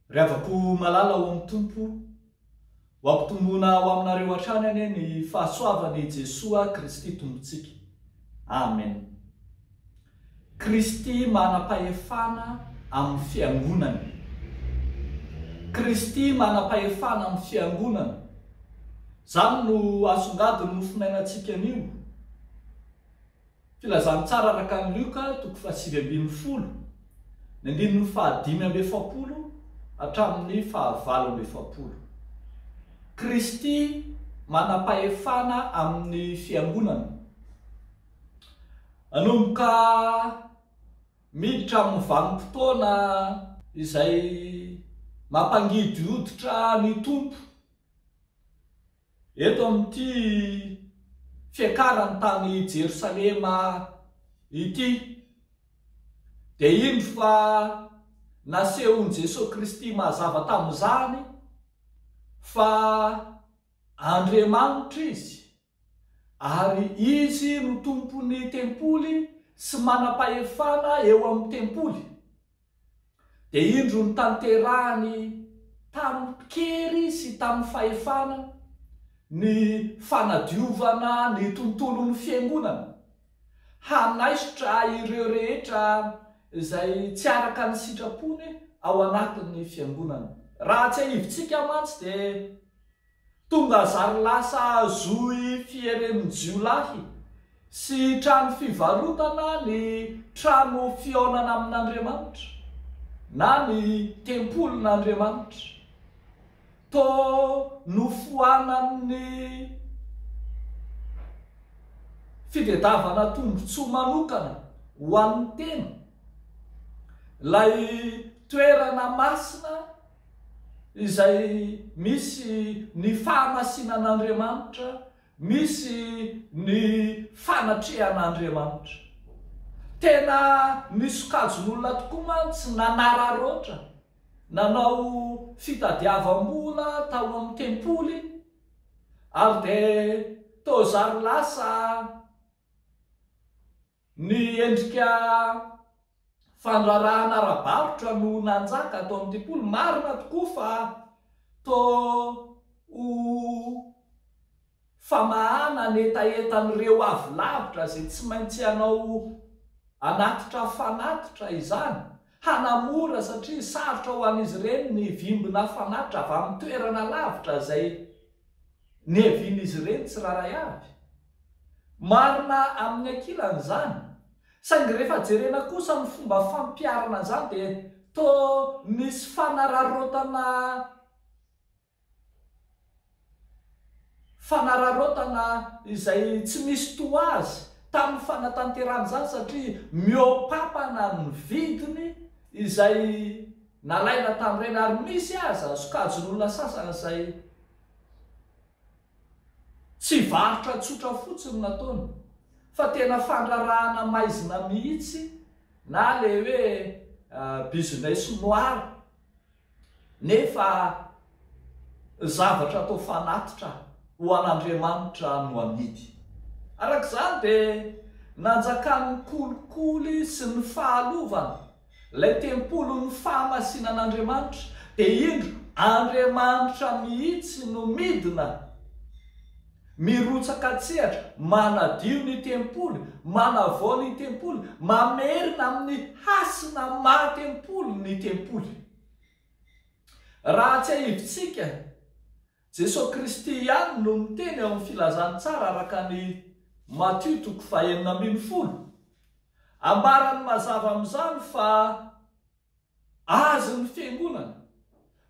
Ry havako malala ao amin'ny Tompo, ho ampitomboina ho aminareo hatrany anie ny fahasoavan'i Jesoa Kristy Tompontsika. Amen. Kristy manam-pahefana amin'ny Fiangonany. Kristy manam-pahefana amin'ny Fiangonany. Izany no asongadin'ny Mofonainantsika anio. Filazantsara araka an'i Lioka, toko fahasivy ambin'ny folo, ny andininy fahadimy amby efapolo hatramin'ny fahavalo amby efapolo. Kristy manam-pahefana amin'ny Fiangonany. Nanomboka miditra amin'ny vanim-potoana izay mampangidy hoditra ny Tompo eto amin'ity fiakarany tany Jerosalema ity, dia indro fa nasehon'i Jesoa Kristy mazava tamin'izany fa Andriamanitra Izy. Ary Izy no Tompon'ny Tempoly sy manam-pahefana eo amin'ny Tempoly. Dia indro notanterahiny tamin-kery sy tamin'ny fahefana ny fanadiovana ny tontolon'ny Fiangonana, hanaisotra ireo rehetra izay tsy araka ny sitrapony ao anatin'ny Fiangonana. Raha atsiahivintsika mantsy dia. Tonga zary lasa zohy fierenin-jiolahy sy trano fivarotana ny trano fihaonana amin'Andriamanitra, na ny tempolin'Andriamanitra. Toa nofoanan'ny fitedavana tombontsoa manokana ho an'ny tena ilay toerana masina, izay misy ny fahamasinan'Andriamanitra, misy ny fanatrehan'Andriamanitra. Tena misokajin'olona tokoa mantsy nanararaotra nanao fitadiavam-bola tao amin'ny tempoly ary dia toa zary lasa. Ny endrika fandraharahana ara-barotra no nanjaka ato amin'ity polo. Marina tokoa fa toa ho famahana ny hetahetan'ireo avy lavitra izay tsy maintsy hanao anatitra fanatitra izany, hanamora satria sarotra ho an'izy ireny ny vimbina fanatitra avy amin'ny toerana lavitra izay niavian'izy ireny tsirairay avy. Marina amin'ny ankilany izany, saingy rehefa jerena kosa ny fomba fampiharana an'izany dia toa misy fanararaotana fanararaotana izay tsy misy toa azy tamin'ny fanatanterahana izany satria mihoa-pampana ny vidiny izay Nalaina tamin'ireny ary misy aza sokajin'olona sasany izay tsy varotra tsotra fotsiny no ataony fa tena fandrarahana maizina mihitsy na ilay hoe business noir nefa zavatra atao fanatitra ho an'Andriamanitra no amidy. Araka izany dia nanjakan'ny kolikoly sy ny fahalovana Ilay tempolin'ny fahamasinan'Andriamanitra, dia indro, Andriamanitra mihitsy no midina, mirotsaka an-tsehatra, manadio ny tempoly, manavao ny tempoly, mamerina amin'ny hasina maha-tempoly ny tempoly. Raha tsiahivintsika, Jesoa Kristy ihany no niteny ao amin'ny Filazantsara araka ny Matio toko fahenina ambin'ny folo. Ambarany mazava amin'izany fa Azy ny Fiangonana,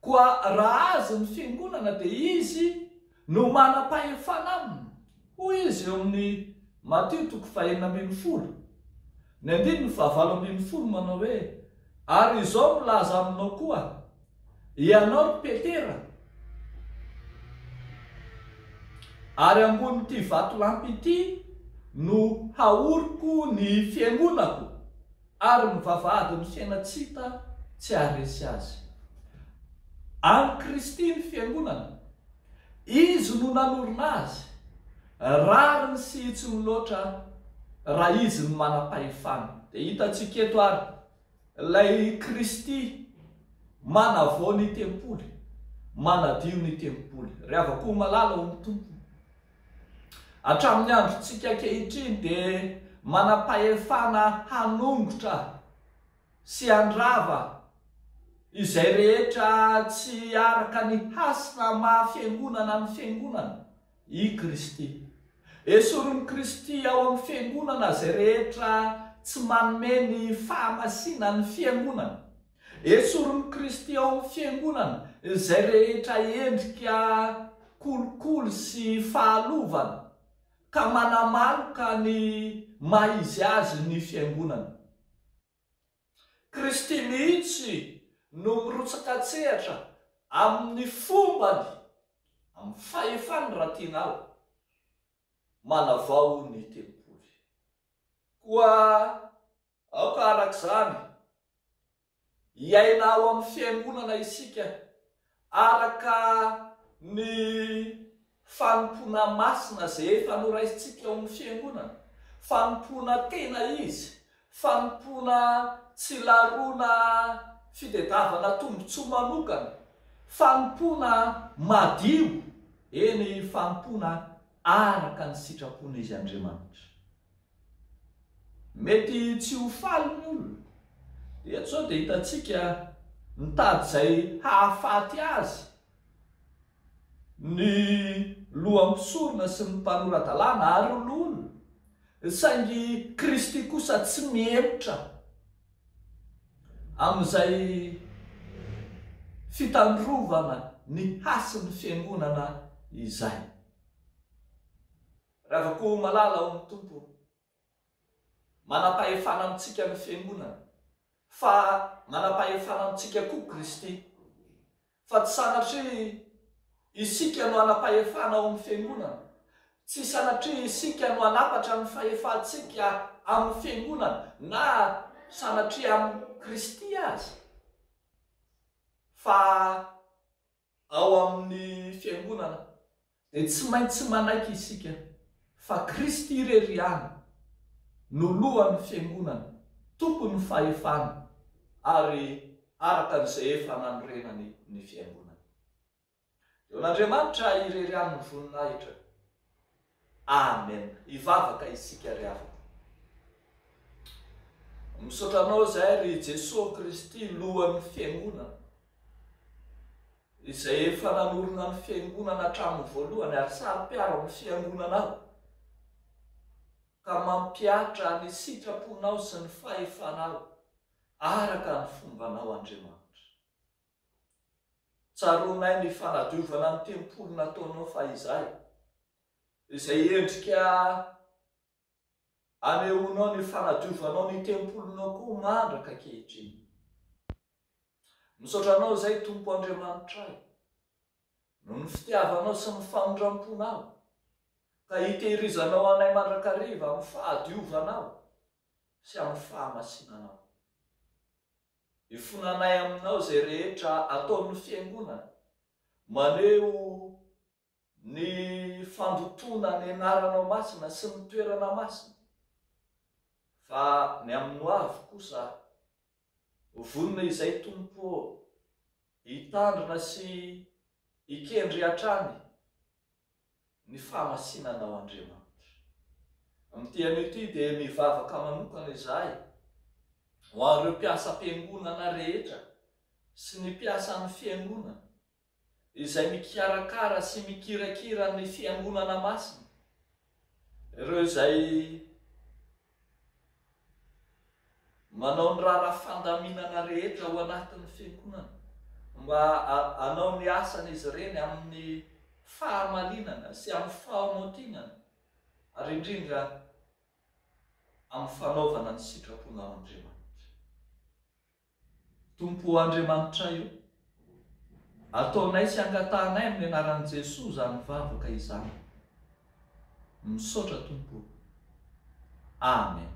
koa raha Azy ny Fiangonana dia Izy no manam-pahefana aminy, hoy Izy eo amin'ny Matio toko fahenina ambin'ny folo, ny andininy fahavalo ambin'ny folo manao hoe, Ary izao milaza aminao koa, Ianao Petera, ary ambonin'ity vatolampy ity no haoriko ny fiangonako, ary ny vavahadin'ny fiaina tsy hita tsy haharesy azy. An'i Kristy ny fiangonana, Izy no nanorina azy, rariny sy hitsiny loatra raha Izy no manam-pahefana. Dia hitantsika eto ary. Ilay Kristy manavao ny tempoly, manadio ny tempoly. Ry havako malala ao amin'ny Tompo, hatramin'ny androntsika ankehitriny dia manam-pahefana hanongotra sy handrava izay rehetra tsy araka ny hasina maha-fiangonana ny Fiangonana. I Kristy. Esorin'i Kristy ao amin'ny Fiangonana izay rehetra tsy manome ny fahamasinany ny Fiangonana. Esorin'i Kristy ao amin'ny Fiangonana izay rehetra endrika kolikoly sy fahalovana ka manamaloka ny maha izy azy ny Fiangonana. Kristy mihitsy no mirotsaka an-tsehatra amin'ny fombany, amin'ny fahefany raha tiana ary, manavao ny tempoly. Koa aoka arak'izany hiaina ao amin'ny fiangonana isika Araka ny fanompoana masina izay efa noraisintsika ao amin'ny Fiangonana, fanompoana tena izy, fanompoana tsy laroana fitedavana tombontsoa manokana, fanompoana madio, eny fanompoana araka ny sitrapon'Izy Andriamanitra. Mety tsy ho faly ny olona. Eto izao dia hitantsika mitady izay hahafaty azy ny loha mpisorona sy ny mpanora-dalàna ary olona, saingy Kristy kosa tsy mihemotra amin'izay fitandrovana ny hasin'ny Fiangonana izay. Ravako ho malala ao amin'ny Tompo Manam-pahefana amintsika ny Fiangonana Fa manam-pahefana amintsika koa Kristy Fa tsy sanatria isika no hanam-pahefana ao amin'ny Fiangonana Tsy sanatria isika no hanapatra ny fahefantsika amin'ny Fiangonana Na sanatria amin'i Kristy aza Fa Ao amin'ny Fiangonana dia tsy maintsy manaiky isika fa Kristy irery ihany no Lohan'ny Fiangonana, Tompon'ny fahefana ary araka an'izay efa nanorenany ny Fiangonana. Eo an'Andriamanitra irery ihany ny voninahitra. Amen hivavaka isika ry havana. Misaotra anao zahay ry Jesoa Kristy lohan'ny fiangonana izay efa nanorina ny fiangonana hatramin'ny voalohany ary saro-piaro amin'ny fiangonanao ka mampiatra ny sitraponao sy ny fahefanao araka ny fombanao Andriamanitra. Tsaroanay ny fanadiovana ny tempoly nataonao fahizay, izay endrika anehoanao ny fanadiovanao ny tempolinao koa mandraka ankehitriny. Misaotra Anao izay, Tompo Andriamanitray, noho ny fitiavanao sy ny famindramponao, ka hitehirizanao anay mandrakariva amin'ny fahadiovanao sy amin'ny fahamasinanao. Ifonanay aminao izay rehetra ataon'ny Fiangonana maneho ny fandotoana ny Anaranao Masina sy ny toerana masina, fa ny amin'ny hoavy kosa, ho vonona izay Tompo ô, hitandrina sy hikendry hatrany, ny famasinanao Andriamanitra. Amin'ity anio ity dia mivavaka manokana izahay ho an'ireo mpiasam-piangonana rehetra sy ny mpiasan'ny fiangonana izay mikarakara sy mikirakira ny fiangonana masina, ireo izay. Manao ny raharaha fandaminana rehetra ao anatin'ny fiangonana mba hanao ny asany izy ireny amin'ny fahamalinana sy amin'ny fahamotinana ary indrindra amin'ny fanaovana ny sitrapon'Andriamanitra. Tompo Andriamanitray o! Ataonay sy angatahanay amin'ny anaran'i Jesoa izany vavaka izany. Misaotra Tompo o! Amen.